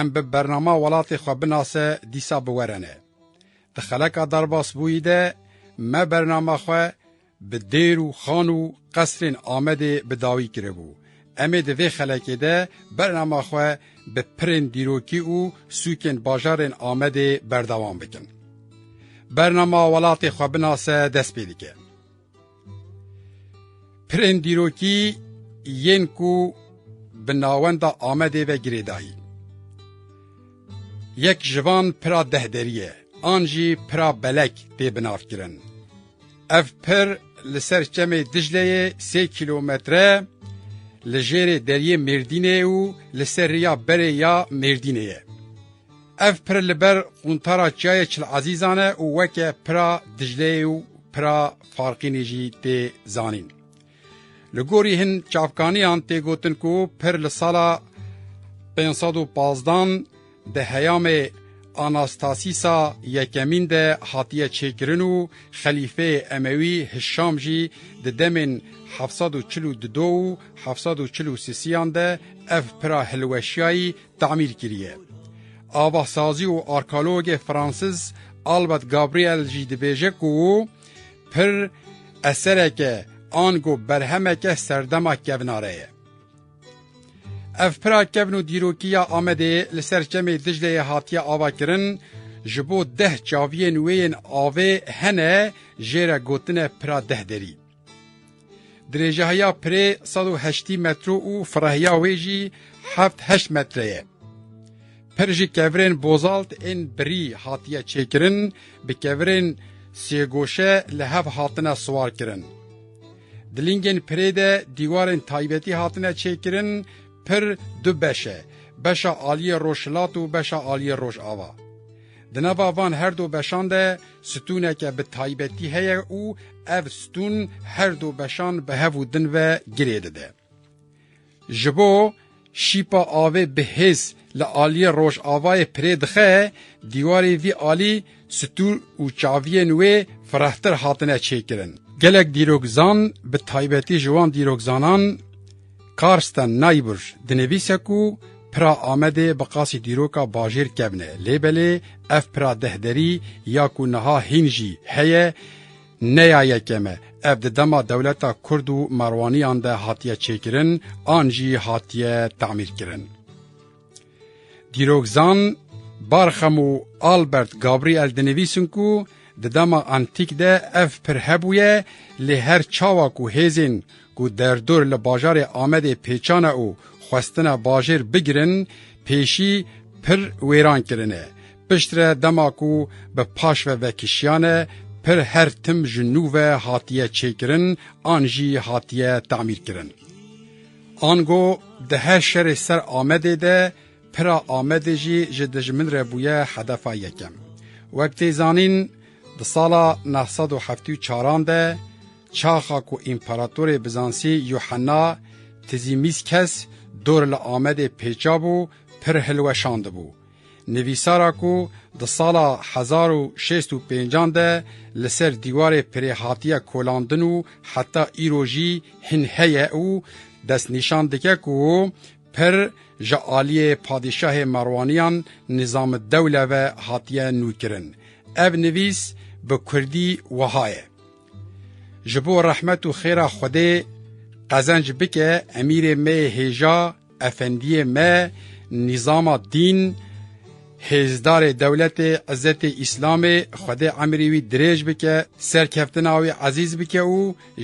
Em bi bernama welatê xwe binase dîsa bi werene. Di xeleka derbasbûyî de me bernama xwe bi dêr û xan û qesrên Amedê bi dawî kiribû. Em ê di vê xelekê de bernama xwe bi pirên dîrokî û sûkên bajarên Amedê berdewam bikin. Bernama welatê xwe binase dest pê dike. Pirên dîrokî yên ku bi navenda Amedê ve girêdayî. Yek ji van pira deh derî ye, an jî pira belek tê binavkirin. Ev pir li ser çemê Dicleyê sê kîlometre li jêrê deriyê Mêrdînê û li ser rêya berê ya Mêrdînê ye. Ev pir li ber quntara çiyayê Çil Ezîzan e û weke Pira Dicleyê û Pira Farqînê jî tê zanîn. Li gorî hin çavkaniyan tê gotin ku pir li sala pênc sed û pazdan di heyamê Anastasîsa Yekemîn de hatiye çêkirin û xelîfeyê Emewî Hişam jî di demên heft sed û çil û du û heft sed û çil û sisiyan de ev pira hilweşiyayî tamîr kiriye. Avasazî û arkeologê Fransiz Albert Gabriel jî dibêje ku pir esereke ango berhemeke serdema kevnare ye. Ev pira kevn û dîrokî ya Amedê li ser çemê Dicleyê hatiye avakirin, ji bo deh çaviyên wê yên avê hene jê re gotine pira deh derî. Dirêjehiya pirê sed û heştî metro û firahiya wê jî heft heşt metre ye. Pir ji kevirên bozalt ên birî hatiye çêkirin, bi kevirên sêgoşe li hev hatine siwarkirin. Di lingên pirê de dîwarên taybetî hatine çêkirin, pir du beş e, beşa aliyê rojhilat û beşa aliyê rojava. Di nava van her du beşan de stûneke bi taybetî heye û ev stûn her du beşan bi hev û din ve girê dide. Ji bo şîpa avê bi hêz li aliyê rojavayê pirê dixe, dîwarên vî alî stûr û çaviyên wê firehtir hatine çêkirin. Gelek dîrokzan bi taybetî ji wan dîrokzanan, Karsten Neibusch dinivîse ku pira Amedê bi qasî dîroka bajêr kevne lê belê ev pira dehderî ya ku niha hîn jî heye ne ya yekem e. Ev di dema dewleta Kurd û Merwaniyan de hatiye çêkirin an jî hatiye tamîrkirin. Dîrokzan Barxam û Albert Gabriel dinivîsin ku di dema antîk de ev pir hebûye lê her çawa ku hêzên ku derdor li bajarê Amedê pêçane û xwestine bajêr bigirin pêşî pir wêran kirine. Piştre dema ku bi paş ve vekişiyane pir her tim ji nû ve hatiye çêkirin an jî hatiye tamîrkirin. Ango di her şerê ser Amedê de pira Amedê jî ji dijmin re bûye hedefa yekem. Wek tê zanîn di sala neh sed û heftê û çaran de çaxa ku împeratorê Bizansî Yuhena Tizîmîskes dor li Amedê pêça bû pir hilweşandibû. Nivîsara ku di sala hezar û şêst û pêncan de li ser dîwarê pirê hatiye kolandin û heta îro jî hin heye û destnîşan dike ku pir ji aliyê padîşahê Merwaniyan Nîzamidewle ve hatiye nûkirin. Ev nivîs bi kurdî wiha ye. Ji bo rehmet û xêra Xwedê qezenc bike emîrê me yê hêja Efendiyê me nîzama dîn hêzdarê dewletê îzzetê îslamê xwedê emirî wî dirêj bike serkeftina wî ezîz bike û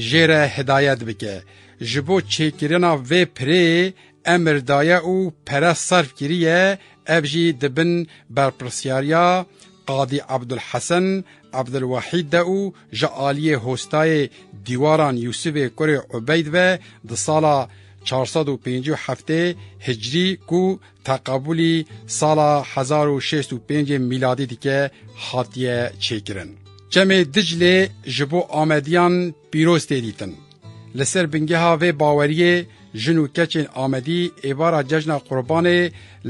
jê re hidayet bike ji bo çêkirina vê pirê emir daye û pere serf kiriye ev jî di bin berpirsiyariya Qadî Abdulhesen Abdulwahîd de û ji aliyê hostayê dîwaran Yûsivê kurê Ubeyd ve di sala çar sed û pêncî û heftê hicrî ku teqebûlî sala hezar û şêst û pêncê mîladî dike hatiye çêkirin. Çemê Diclê ji bo Amediyan pîroz tê dîtin. Li ser bingeha vê baweriyê jin û keçên Amedî êvara cejna Qurbanê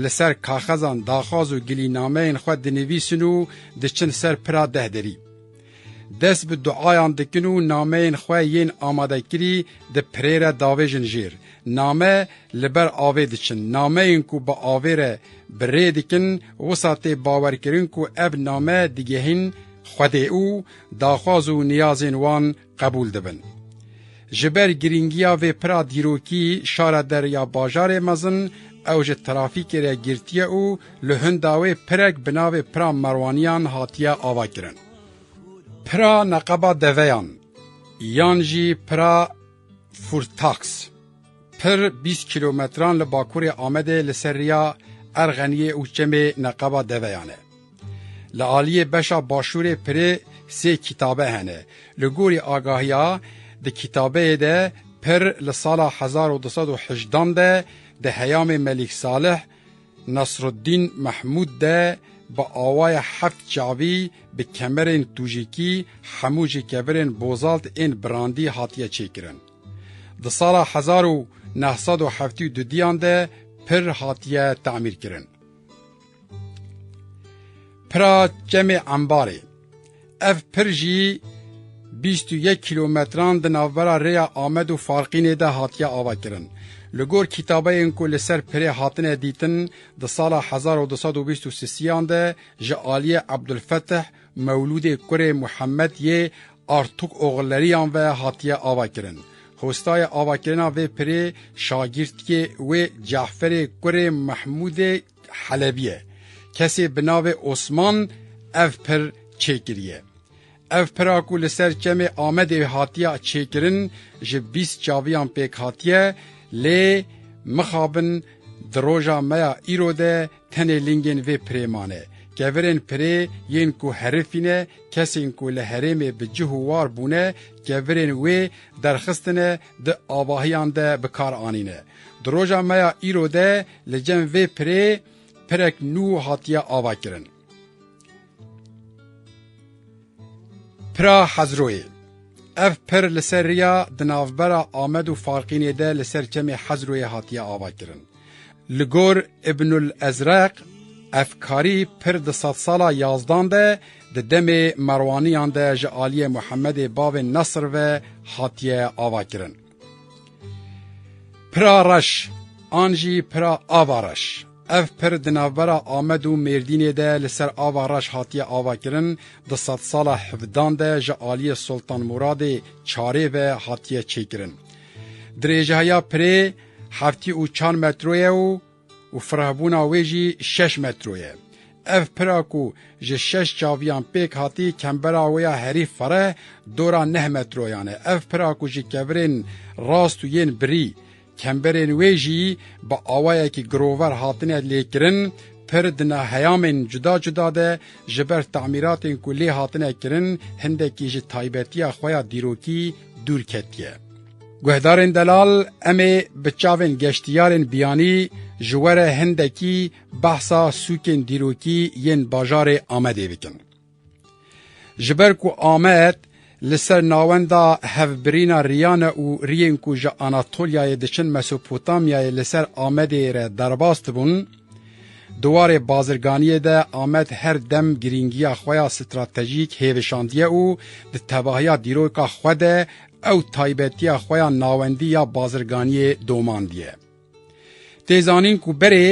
li ser kaxezan daxwaz û gilînameyên xwe dinivîsin û diçin ser pira deh derî. Dest bi duayan dikin û nameyên xwe yên amadekirî di pirê re davêjin jêr. Name li ber avê diçin. Nameyên ku bi avê re bi rê dikin wisa tê bawerkirin ku ev name digihîn Xwedê û daxwaz û niyazên wan qebûl dibin. Ji ber girîngiya vê pira dîrokî şara Derya Bajarê mezin ew ji trafîkê re girtiye û li hinda wê pirek bi navê Pira Merwaniyan hatiye avakirin. Pira Neqeba Deveyan yan jî Pira Furtax. Pir bîst kîlometran li bakurê Amedê li ser riya Erxeniyê û çemê Neqeba Deveyan e. Li aliyê beşa başûrê pirê sê kîtabe hene. Li gorî agahiya di kîtabeyê de pir li sala hezar û du sed û hejdan de di heyamê Melîk Salih Nasruddîn Mehmûd de bi awayê heft çavî bi kemerên tûjîkî hemû ji kevirên bozalt ên birandî hatiye çêkirin. Di sala hezar û neh sed û heftê û du diyan de pir hatiye tamîrkirin. Pira Çemê Embarê Ev pir jî bîst û yek kîlometran di navbera rêya Amed û Farqînê de hatiye avakirin. Li gor kîtabeyên ku li ser pirê hatine dîtin di sala hezar û du sed û bîst û sisiyan de ji aliyê Ebdulfetih Mewlûdê kurê Muhemed yê Artuk Oxuleriyan ve hatiye avakirin. Hostaya avakirina vê pirê şagirtiyê wê Caferê kurê Mehmûdê Helebî ye. Kesê bi navê Osman ev pir çêkiriye. Ev pira ku li ser çemê Amedê hatiye çêkirin ji bîst çaviyan pêk hatiye lê mixabin di roja me ya îro de Tenê lingên vê pirê mane. Kevirên pirê yên ku herifî ne, kesên ku li herêmê bi cih û war bûne, kevirên wê derxistine di avahiyan de bi kar anîne. Di roja me ya îro de li cem vê pirê pirek nû hatiye avakirin. Pira Hezroyê Ev pir li ser riya di navbera Amed û Falqînê de li ser çemê Hezroyê hatiye avakirin. Li gor Îbnul Ezreq ev karî pir di sedsala yazdan de di demê Merwaniyan de ji aliyê Muhemedê bavê Nesr ve hatiye avakirin. Pira reş an jî pira ava reş. Ev pir di navbera Amed û Mêrdînê de li ser ava reş hatiye avakirin, di sedsala hevdan de ji aliyê Soltan Muradê çarê ve hatiye çêkirin. Dirêjeheya pirê heftî û çar metro ye û û firehbûna wê jî şeş metro ye. Ev pira ku ji şeş çaviyan pêk hatî kembera wê ya herî fireh dora neh metroyan e. Ev pira ku ji kevirên rast û yên birî kemberên wê jî bi awayekî girover hatine lêkirin, pir di ne heyamên cuda cuda de ji ber tamîratên ku lê hatine kirin hindekî ji taybetiya xwe ya dîrokî dûr ketiye. Guhdarên delal em ê bi çavên geştiyarên biyanî ji we re hindekî behsa sûkên dîrokî yên bajarê Amedê bikin. Ji ber ku Amed li ser navenda hevbirîna riyane û riyên ku ji Anatolyayê diçin Mesopotamyayê li ser Amedê re derbas dibûn, di warê bazirganiyê de Amed her dem girîngiya xwe ya stratejîk hêvişandiye û di tevahiya dîroka xwe de Ew taybetiya xwe ya navendî ya bazirganiyê domandiye. Tê zanîn ku berê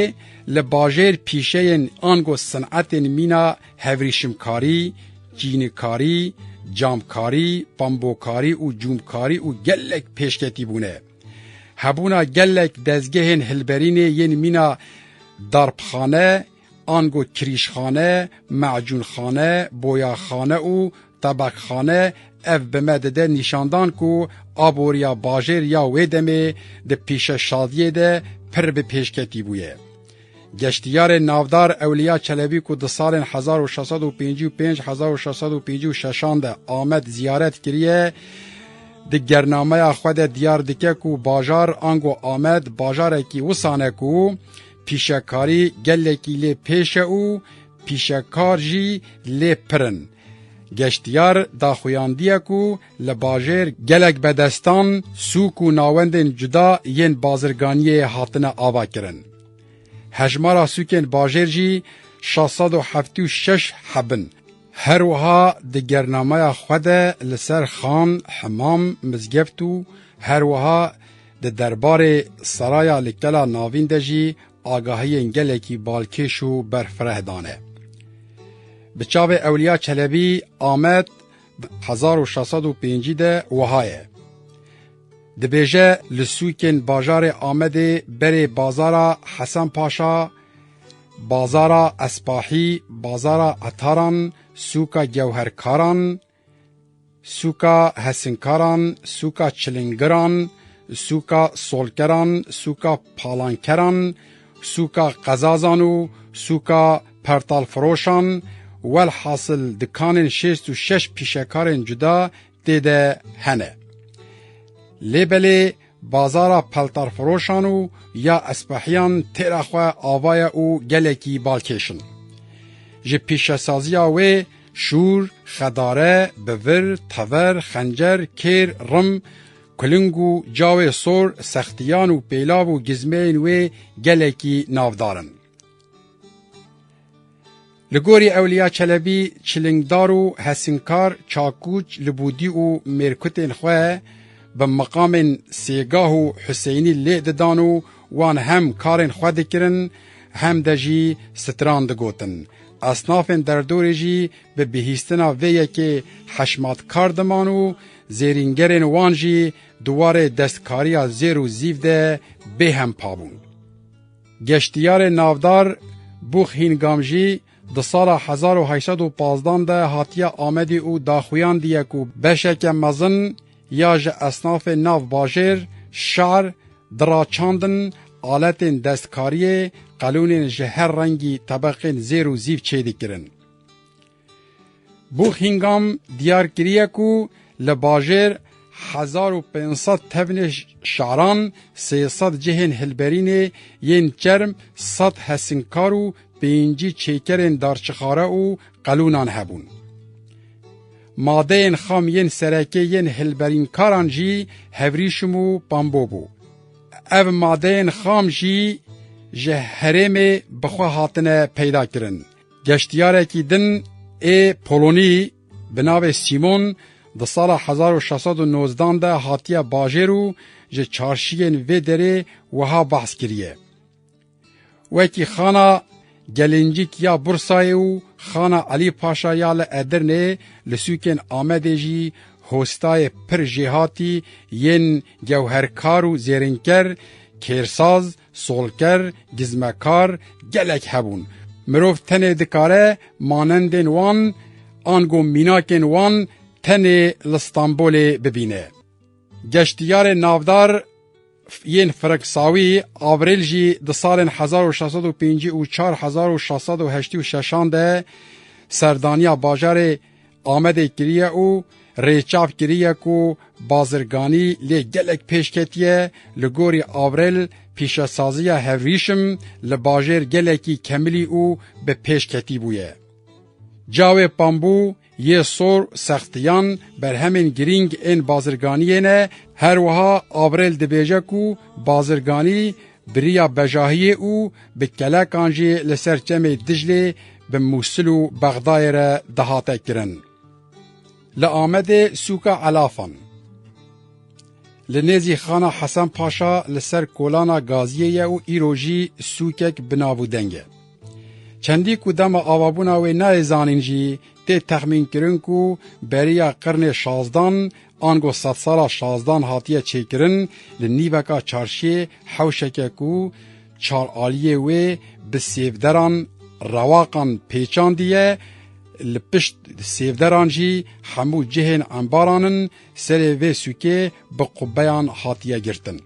li bajêr pîşeyên ango sinetên mîna hevrîşimkarî, çînikarî, camkarî, pambokarî û cûmkarî û gelek pêşketî bûne. Hebûna gelek dezgehên hilberînê yên mîna darpxane, ango kirîjxane, macûnxane, boyaxane û tebakxane ev bi me dide nîşandan ku aboriya bajêr ya wê demê di pêşeşadiyê de pir bi pêşketî bûye. Geştiyarê navdar Ewliya Çelebî ku di salên 1655-1656 de Amed ziyaret kiriye, di gernameya xwe de diyar dike ku bajar ango Amed bajarekî wisane ku Pîşekarî gelekî lê pêş e û pîşekar jî lê pir in. Geştyar daxuyandiye ku li bajêr gelek bedestan, sûk û nawendên cuda yên bazirganiyê hatine avakirin. Hejmara sûkên bajêr jî şeş sed û heftê û şeş heb in. Her wiha di gernameya xwe de li ser xan, himam, mizgebt û her wiha Di derbarê seraya li Kela Navîn de jî agahiyên gelekî balkêş û berfireh dane. Bi çavê Ewliya Çelebî Amed di 1605 de wiha ye. Dibêje li sûkên bajarê Amedê berê bazara Hesen Paşa, bazara Espahî, bazara Etaran, sûka Gewherkaran, sûka hesinkaran, sûka çilingiran, sûka solkeran, sûka palankeran, sûka qezazan û sûka pertalfiroşan, welhasil dikanên şêst û şeş pîşekarên cuda tê de hene. Lê belê Bazara peltarfiroşan û ya Espehiyan têra xwe ava ye û gelekî balkêş in. Ji pîşesaziya wê şûr, xedare, bivir, tever, xencer, kêr, rim, kuling û cawê sor, sextiyan û pêlav û gizmeyên wê gelekî navdar in. Li gorî Ewliya Çelebî çilingdar û hesinkar çakûç li bûdî û mêrkutên xwe bi miqamên Sêgah û Huseynî lê didan û wan hem karên xwe dikirin hem de jî stran digotin. Esnafên derdorê jî bi bihîstina vê yekê heşmatkar diman û zêrîngerên wan jî di warê destkariya zêr û zîv de bêhempa bûn. Geştiyarê navdar Bûx Hîn Gamjî di sala hezar û heşt sed û pazdan de hatiye Amedê û daxuyandiye ku beşeke mezin ya ji esnafê nav bajêr, şar, dira çandin, aletên destkariyê, qelûnên ji her rengî tebeqên zêr û zîv çêdikirin. Buckingham diyar kiriye ku li bajêr hezar û pênc sed tevnê şaran, sê sed cihên hilberînê yên çerm, sed hesinkar û pêncî çêkerên darçixare û qelûnan hebûn. Madeyên xam yên serekê yên hilberînkaran jî hevrîşim û pambo bû. Ev madeyên xam jî ji herêmê bi xwe hatine peydakirin. Geştyarekî din ê Polonî bi navê Sîmon di sala hezar û şeş sed û nozdan de hatiye bajêr û ji çarşiyên vê derê wiha behs kiriye, Wekî xana Gelincîk ya Bursayê û xana Elî Paşa ya li Edirneyê li sûkên Amedê jî hostayê pir jêhatî yên gewherkar û zêrînker, kêrsaz, Solker, gizmekar gelek hebûn. Mirov tenê dikare manendên wan ango mînakên wan tenê li Stenbolê bibîne. Geştiyarên navdar yên Firiksawî, Avril jî di salên hezar û şeş sed û pêncî û çar hezar û şeş sed û heştî û şeşan de serdaniya bajarê Amedê kiriye û rêçav kiriye ku bazirganî lê gelek pêş ketiye, li gorî Avril pîşesaziya hevrîşim li bajêr gelekî kemilî û bi pêş ketî bûye. Cawê pambû yê sor sextiyan berhemên girîng ên bazirganiyê ne, her wiha Avril dibêje ku bazirganî Biriya bejahiyê û bi kelekan jî li ser çemê Diclê bi Mûsil û Bexdayê re dihate kirin. Li Amedê sûka Elafan. Li nêzî Xana Hesen Paşa li ser kolana Gaziyê ye û îro jî sûkek bi nav û deng e. Çendî ku dema avabûna wê nayê zanîn jî tê texmînkirin ku beriya qirnê şazdan Ango sedsala şazdan hatiye çêkirin li nîveka çarşiyê hewşeke ku çar aliyê wê bi sêvderan rewaqan pêçandiye, li pişt sêvderan jî hemû cihên embaran in, serê vê sûkê bi qubeyan hatiye girtin.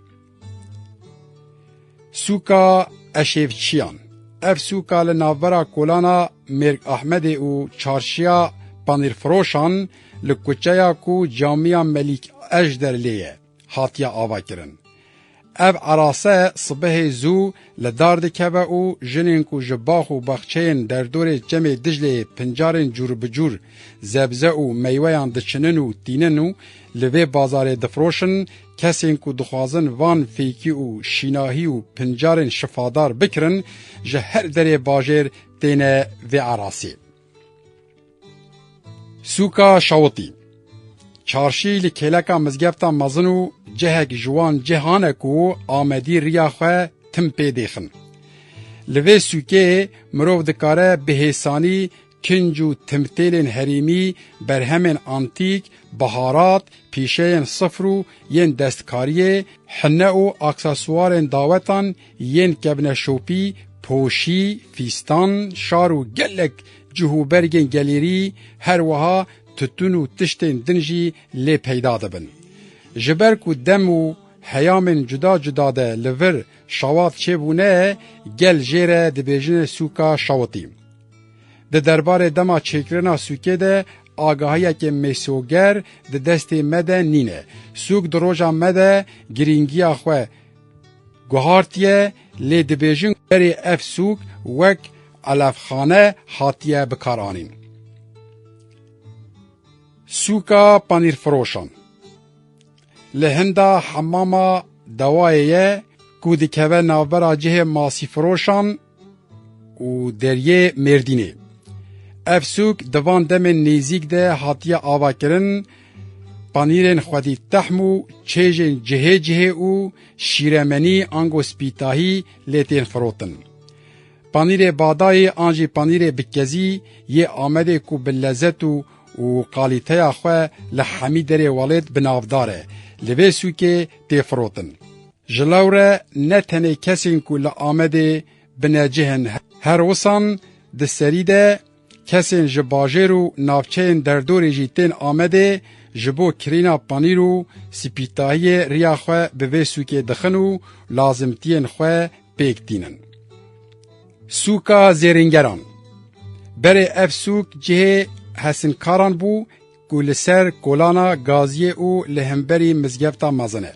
Sûka Eşêvçiyan Ev sûka li navbera kolana Mêrg Ahmedê û çarşiya Panîrfiroşan li kuçeya ku camiya Melîk Ejder lê ye hatiye avakirin. Ev erase sibehê zû Li dar dikeve û jinên ku ji bax û baxçeyên derdorê Çemê Dicleyê pincarên cûrbicûr zebze û meyweyan diçinin û tînin û li vê bazarê difiroşin, kesên ku dixwazin van fêkî û şînahî û pincarên şifadar bikirin, ji her derê bajêr têne vê erasê. Sûka Şawitî Çarşî li kêleka mizgefta mezin û cihek ji wan cihan e ku Amedî riya xwe tim pê dêxin. Li vê sûkê mirov dikare bi hêsanî kinc û timtêlên herêmî, berhemên antîk, biharat, pîşeyên sifr û yên destkariyê, hine û aksesûarên dawetan Yên kevne şopî, poşî, fîstan, şar û gelek cih û bergên gelêrî her wiha tutun û tiştên din jî lê peyda dibin. Ji ber ku dem û heyamên cuda cuda de li vir şawat çêbûne gel jê re dibêjine sûka şawitî. Di derbarê dema çêkirina sûkê de agahiyekê mêsoger di destê me de nîne. Sûk di roja me de girîngiya xwe Guhartiye lê dibêjin berê ev sûk wek elefxane hatiye bikaranîn. Sûka panîrfiroşan li hinda hemama dawayê ye ku dikeve navbera cihê masîfiroşan û deriyê Mêrdînê. Ev sûk di van demên nêzîk de hatiye avakirin, panîrên xwedî tehm û çêjên cihê cihê û şîremenî ango spîtahî lê tên firotin. Panîrê badayê an jî panîrê bikezî yê Amedê ku bi lezet û û qalîteya xwe li hemî derê welêt bi navdar e, li vê sûkê tê firotin. Ji law re ne tenê kesên ku li Amedê binecih in her wisan di serî de kesên ji bajêr û navçeyên derdorê jî tên Amedê ji bo kirîna panîr û spîtahiyê riya xwe bi vê sûkê dixin û lazimtiyên xwe pêk tînin. Sûka zêrîngeran Berê ev sûk cihê hesinkaran bû ku li ser kolana Gaziyê û li hemberî mizgefta mezin e.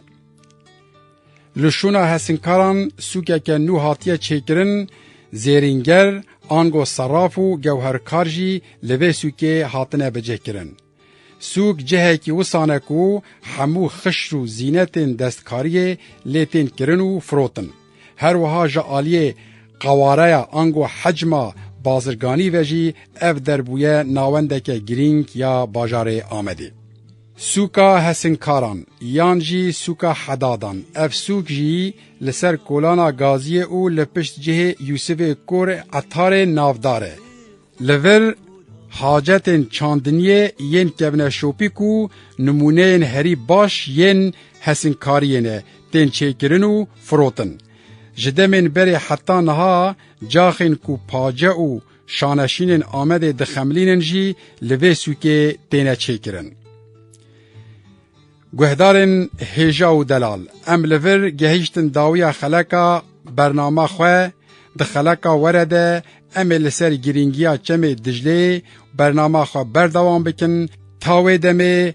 Li şûna hesinkaran sûkeke nû hatiye çêkirin, zêrînger, ango seraf û gewherkar jî li vê sûkê hatine bicihkirin. Sûk cihekî wisan e ku hemû xişr û zînetên destkariyê lê tên kirin û firotin. Her wiha ji aliyê qawareya ango hecma bazirganî ve jî ev der bûye nawendeke girîng ya bajarê Amedê. Sûka Hesinkaran yan jî Sûka Hedadan, ev sûk jî li ser kolana Gaziyê û li pişt cihê Yûsifê Kor ê Etarê navdar e. Li vir hacetên çandiniyê yên kevne şopî ku nimûneyên herî baş yên hesinkariyê ne tên çêkirin û firotin. Ji demên berê heta niha caxên ku pace û Şaneşînên Amedê dixemilînin jî li vê sûkê têne çêkirin. Guhdarên hêja û delal em li vir gehîştin dawiya xeleka bernama xwe di xeleka were de em ê li ser girîngiya çemê Dicleyê bernama xwe berdewam bikin ta wê demê